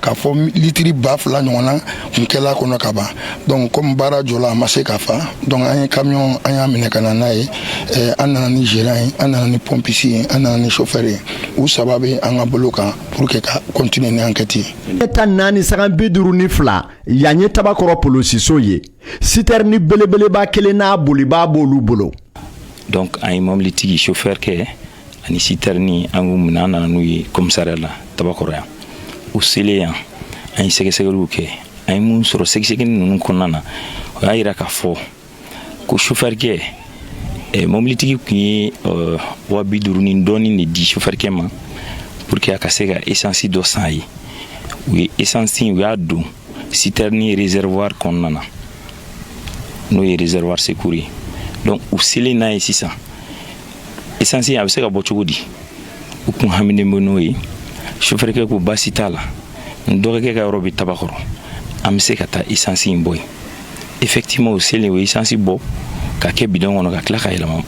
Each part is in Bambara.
k'a fɔ litiri ba fila ɲɔgɔnna kun kɛla kɔnɔ ka ban donc komi baara jɔla a ma se ka fa donc an ye kamiyɔn an y'a minɛ ka na n'a ye eh, an nana ni geran ye an nana ni pɔmpisi ye an nana ni chauffeur ye u saba bɛ an ka bolo kan pour que ka continuer ni enquête ye ɲɛ tan naani sagan bi duuru ni fila yan ye tabakɔrɔ polosiso ye sitɛrini belebeleba kelen n'a bolibaa b'olu bolo donc an ye mobilitigi chauffeur kɛ ani sitɛrini an y'u minɛ an nana n'u ye kɔmisariya la tabakɔrɔ yan u selen yan an ye sɛgɛsɛgɛliw kɛ an ye mun sɔrɔ sɛgɛsɛgɛli ninnu kɔnɔna na o y'a yira k'a fɔ ko sofɛrikɛ eh, mɔbilitigi tun ye eh, wa bi duuru ni dɔɔni de di sofɛrikɛ ma pour que a ka se ka esansi dɔ san ye u ye esansi u y'a don sitɛrini réservoir kɔnɔna na n'o ye réservoir secours ye donc u selen n'a ye sisan esansi a bɛ se ka bɔ cogo di u kun haminen bɛ n'o ye sofɛrikɛ ko baasi t'a la n dɔgɔkɛ ka yɔrɔ bɛ tabakɔrɔ an bɛ se ka taa esansi in bɔ yen effectivement u selen u esansi bɔ ka kɛ bidɔn kɔnɔ ka tila ka yɛlɛma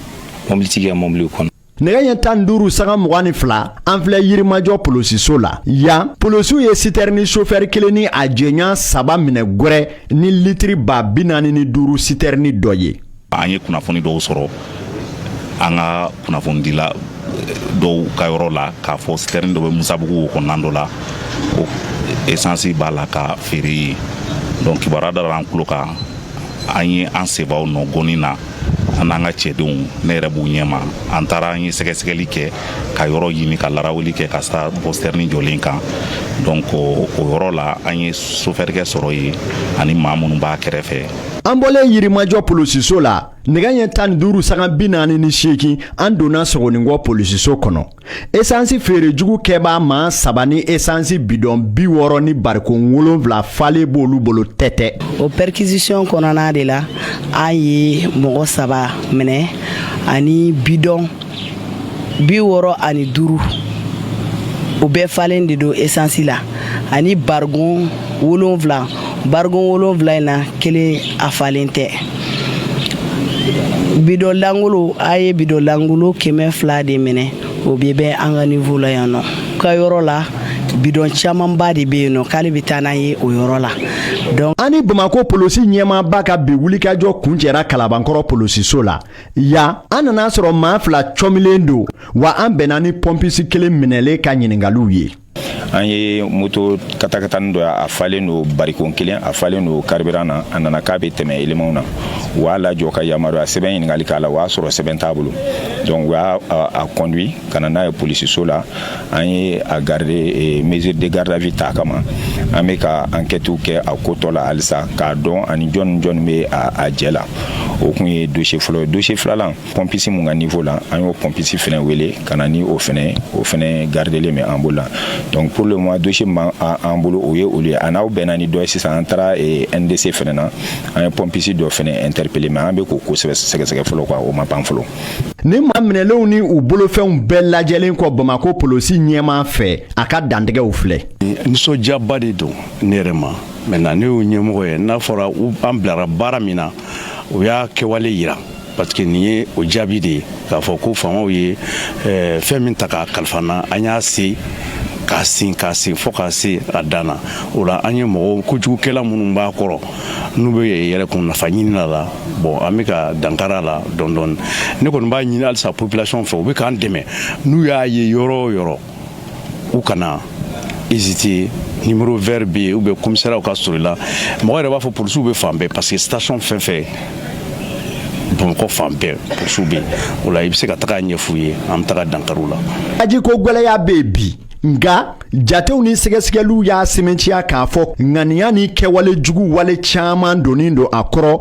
mɔbilitigi ka mɔbiliw kɔnɔ nɛgɛ ɲɛ tan duuru sanga mugan ni fila an filɛ yirimajɔ polosiso la yan polosiw ye sitɛrini sofɛri kelen ni a jɛɲɔgɔn saba minɛ gwɛrɛ ni litiri ba bi naani ni duuru sitɛrini dɔ ye an ye kunnafoni dɔw sɔrɔ an ka kunnafonidila eh, dɔw ka yɔrɔ la k'a fɔ sitɛrɛni dɔ bɛ musabugu kɔnɔna dɔ la ko esansi b'a la ka feere yen donc kibaruya dara an tulo kan an ye an sebaw nɔ gɔni na an n'an ka cɛdenw ne yɛrɛ b'u ɲɛma an taara an ye sɛgɛsɛgɛli kɛ ka yɔrɔ ɲini ka larawuli kɛ ka sa bɔ sitɛrini jɔlen kan donc o yɔrɔ la an ye sofɛrikɛ sɔrɔ yen ani maa minnu b'a kɛrɛfɛ an bɔlen yirimajɔ polisiso la nɛgɛ ɲɛ tan ni duuru sagan bi naani ni seegin an donna sogoninkɔ polisiso kɔnɔ esansi feere jugu kɛbaa maa saba ni esansi bidɔn bi wɔɔrɔ ni bariko wolonwula falen b'olu bolo tɛ tɛ o pɛrikisisiyɔn kɔnɔna de la an ye mɔgɔ saba minɛ ani bidɔn bi wɔɔrɔ ani duuru o bɛɛ falen de don esansi la ani barigon wolonfila barigon wolonfila in na kelen a falen tɛ bidɔn langolo a ye bidɔn langolo kɛmɛ fila de minɛ o bɛɛ bɛ an ka nivo la yan nɔ ka yɔrɔ la bidɔn camanba de bɛ yen nɔ k'ale bɛ taa n'an ye o yɔrɔ la donc an ni bamakɔ polosi ɲɛmaaba ka bi wulikajɔ kuncɛra kalabankɔrɔ polosiso la yan an nana a sɔrɔ maa fila cɔmilen don wa an bɛnna ni pɔnpisi kelen minɛlen ka ɲiningaliw ye an ye moto katakatani dɔ ye a falen don barikon kelen a falen don karibiran na a nana k'a bɛ tɛmɛ elemanw na u y'a lajɔ ka yamaruya sɛbɛn ɲininkali k'a la o y'a sɔrɔ sɛbɛn t'a bolo donc u y'a conduit ka na n'a ye polisiso la an ye a gardé mesure de garde à vue ta kama an bɛ ka enquête kɛ a ko tɔ la halisa k'a dɔn ani jɔn ni jɔn bɛ a jɛ la o kun ye dossier fɔlɔ ye dossier filanan pompiste mun ka niveau la an y'o pompiste fɛnɛ wele ka na ni o fɛnɛ o fɛnɛ gardelen bɛ an bolo la donc pour le moment dossier min b'an bolo o ye olu ye a n'aw bɛnna ni dɔ ye sisan an taara eh, ndc fɛnɛ na an ye pompiste dɔ fɛnɛ interpellé mais an bɛ k'o ko sɛgɛsɛgɛ fɔlɔ quoi o ma ban fɔlɔ ni maa minɛlenw ni u bolofɛnw bɛɛ lajɛlen kɔ bamakɔ polosi ɲɛmaa fɛ a ka dantigɛw filɛ nisɔndiyaba de don ne yɛrɛ ma maintenant ne y'o ɲɛmɔgɔ ye n'a fɔra an bilara baara min na o y'a kɛwale yira parce que nin ye o jaabi de ye k'a fɔ ko faamaw ye eh, fɛn min ta k'a kalifa an na an y'a se k'a sin k'a sin fo k'a se a dan na o la an ye mɔgɔw kojugukɛla minnu b'a kɔrɔ n'u bɛ yɛrɛkun nafa ɲini a la bon an bɛ ka dankari a la dɔɔni dɔɔni ne kɔni b'a ɲini halisa population fɛ u bɛ k'an dɛmɛ n'u y'a ye yɔrɔ o yɔrɔ u kana hésiter numéro vert bɛ yen ou bien commissariat ka surun i la mɔgɔ yɛrɛ b'a fɔ polisiw bɛ fan bɛɛ parce que station fɛn o fɛn bamakɔ fan bɛɛ polisiw bɛ yen o la i bɛ se ka taga ɲɛf'u ye an bɛ taga dankari u la. Tajiko gɛlɛya bɛ yen bi. nka jatew ni sɛgɛsɛgɛliw y'a sɛmɛntiya k'a fɔ ŋaniya ni kɛwale jugu wale caman donnen don a kɔrɔ